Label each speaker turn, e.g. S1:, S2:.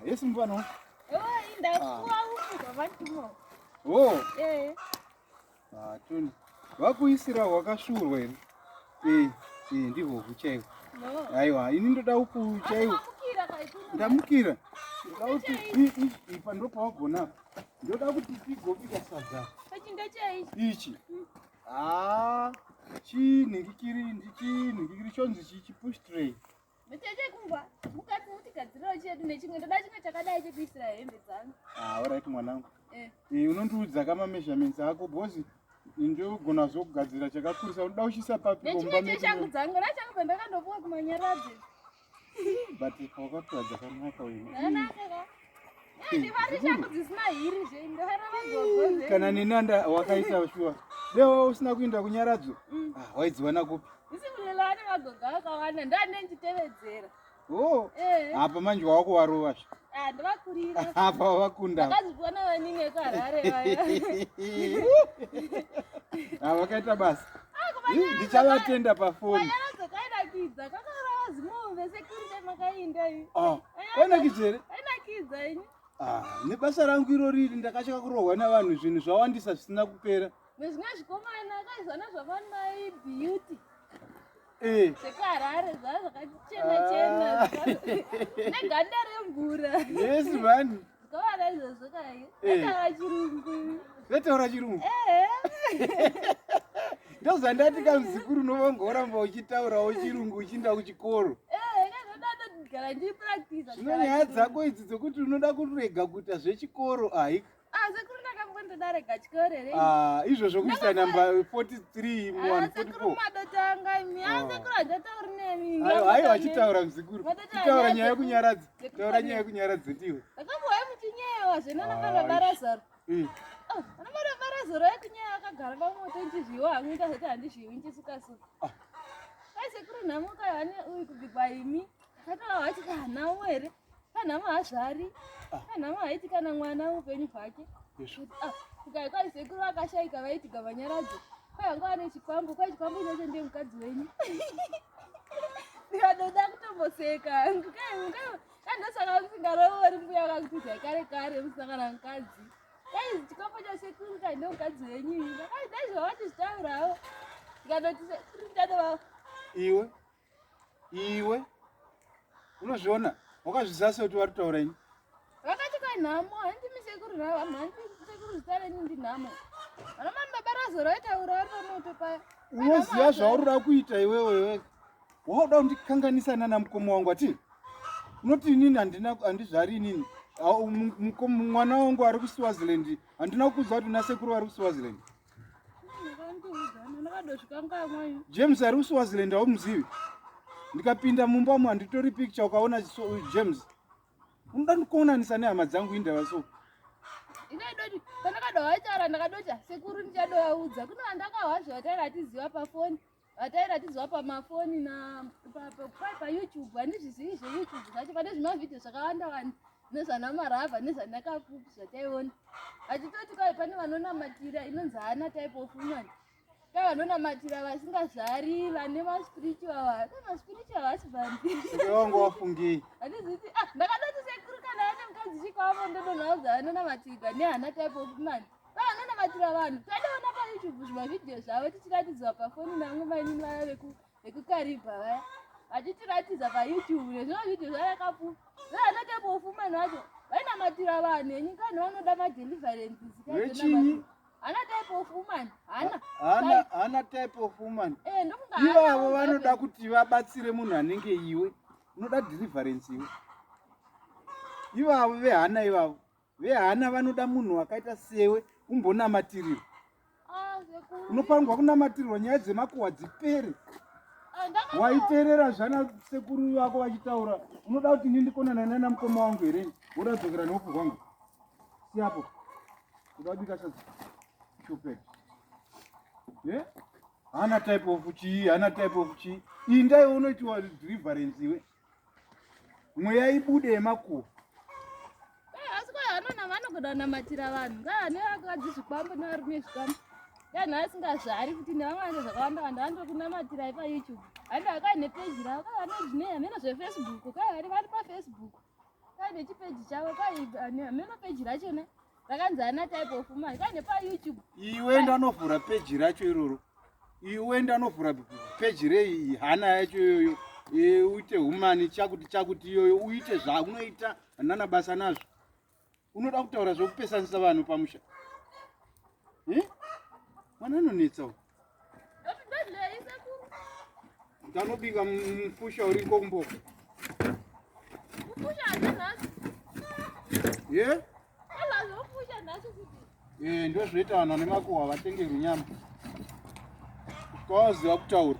S1: Yesu mfano. Oh, inda
S2: kwa huko abantu mo. Oh. Eh.
S1: Ah, tuni. Wakuisira wakashurwa here? Eh, eh ndihwo kuchaiwa. No. Aiwa, ini ndoda uku chaiwa. Ndamukira. Ndamukira. Ndauti ipa ndopawagona. Ndoda kuti tigobika sadza. Ichi ndechei? Ichi. Ah, chinhu kikiri ndichinhu kikiri chonzi chichi push tray. Mutete kumba,
S2: mukati muti gadziriro chedu nechimwe ndoda chimwe chakadai chekuisira hembe dzangu. Ah, alright mwanangu.
S1: Eh. Eh, unondiudza kama measurements ako bozi ndogona zvokugadzira chakakurisa unoda uchisa papi? Nechimwe chechangu dzangu,
S2: rachangu pandakandopuwa kumanyaradzi. kana nini anda
S1: wakaita shuwa deo usina kuinda kunyaradzo mm. ah, waidziwana kupi
S2: oh. eh.
S1: apa manje wawakuvarova sva
S2: apa wavakunda
S1: vakaita basa ndichavatenda pafoni
S2: kwainakijere
S1: ah,
S2: nebasa
S1: rangu iro riri ndakachaka kurohwa navanhu zvinhu zvawandisa zvisina kupera nezvimwe zvikomana
S2: akaizana zvavanai beauty eh. zvekuharare zvaa zvakachena chena ah. neganda remvura yes mani Zvakawana izvozvo kayo. Eh. Ndataura chirungu.
S1: Ndataura chirungu. Eh. Ndozvandati kamuzukuru unovongoramba uchitaurawo chirungu uchiinda kuchikoro.
S2: Eh. Zvino nyaya dzako
S1: idzi dzokuti unoda kurega kuita zvechikoro ahika
S2: ah, izvo zvokuisa
S1: namba 43
S2: muwanhaiwa achitaura
S1: mzikuru kutaura nyaya yekunyaradza Taura nyaya yekunyara dziti iwe. Ndakambowa kuti nyaya
S2: wazvena nakana barazaro. Eh. Oh, ana mara barazaro yekunyaya akagara pamoto ndizviwa hanguita kuti handizviwi ndisuka so. Ah. Kai sekuru nhamo kai vane uyu kubigwa imi. Akataura wacho ka nhamo here? Ka nhamo hazvari. Ah. Ka nhamo haiti kana mwana upenyu hwake. Yes. Ah, kai kai sekuru akashaika vaiti gavanyaradzo. Kai vanga vane chikwambo, kai chikwambo chacho ndiye mukadzi wenyu. ndikatoda kutomboseka kandosaka kusingaroori mbuya vakakutidza kare kare musangana mukadzi dai chikapo chasekuru kaine mukadzi wenyu ini ndakati dai zvavati zvitaurawo ndikatoti sekuru ndadova iwe
S1: iwe unozviona wakazvizasa kuti vari kutaura ini vakati ka
S2: nhamo handi misekuru ravo am handi misekuru zita renyu ndi nhamo vana mani baba razo raitaura vari pamoto paya unoziva zvauri
S1: ra kuita iwewe iwe wauda kundikanganisa nana mukoma wangu ati unoti inini handina handizvari inini mwana wangu ari kuswaziland handina kukuziva kuti nasekuru vari kuswaziland james ari kuswaziland haumuzivi ndikapinda mumba mu handitori picture ukaona james unoda ndikuonanisa nehama dzangu indava so ndinadoti
S2: pandakadova chara ndakadoti sekuru ndichadovaudza kune vandakahwa zve vataira atiziva pafoni vataira atiziva pamafoni na payoutube handizvizivi zveyoutube zvacho pane zvimavhidhio zvakawanda wanda nezvanamarava nezvanakafupi zvataiona hatitoti kwai pane vanonamatira inonzi hana type of woman vanonamatira vasingazvari vane maspiritual vane maspiritual vasibhandiwangu wafungei
S1: andiziti ah,
S2: ndakadati sekuru kana ane mukadzi chikwavo ndodonhauza vanonamatirwa nehana type of man vanonamatira vanhu taidaona payoutube zvimavideo zvavo tichiratidzwa pafoni namwe mainini vaya vekukaribha vaya vachitiratidza payoutube nezvimavideo zvaya kapu vehana type of man vacho vainamatira vanhu henyu kani vanoda madeliverance zikazonamati Hana type of woman.
S1: Hana. Hana, hana type of woman. Eh, ndofunga hana. Iva avo vanoda kuti vabatsire munhu anenge iwe. Unoda deliverance iwe. Iva avo vehana ivavo. Vehana vanoda munhu wakaita sewe umbonamatirira. Ah, zekuru. Unopanwa kunamatirirwa nyaya dzemakuwa dzipere. Ah, Waiterera zvana sekuru vako vachitaura. Unoda kuti ndindikonana nana mukoma wangu here? Woda dzokera nokuhwangu. Siapo. Kudabika sasa. Stupid. Yeah? Hana type of chi, hana type of chi. Indai unoitwa deliverance iwe. Mweya ibude yemakuwa.
S2: Eh, asi kwa vanona vanogoda namatira vanhu. Ngavane vakadzi zvikwambo nevarume zvikwambo. Kana asingazvari kuti nevamwe vange zvakawanda wanda vanotokunamatirai pa YouTube. Handa vakaine page ravo, kavane zvinei hameno zve Facebook, kavane vari pa Facebook. kai nechipeji chavo kai hameno peji rachona rakanzi hana type of man kai nepayoutube iwe ndanovhura
S1: peji racho iroro iwe ndanovhura peji rei hana yacho iyoyo e, uite humani chakuti chakuti iyoyo uite zvaunoita hanana basa nazvo unoda kutaura zvekupesanisa vanhu pamusha eh? mwana anonetsawo tanobika mupusha uri komboko
S2: ye eh,
S1: ndozvoita vanhu vane makuhwa vatenge runyama kwawaziva kutaura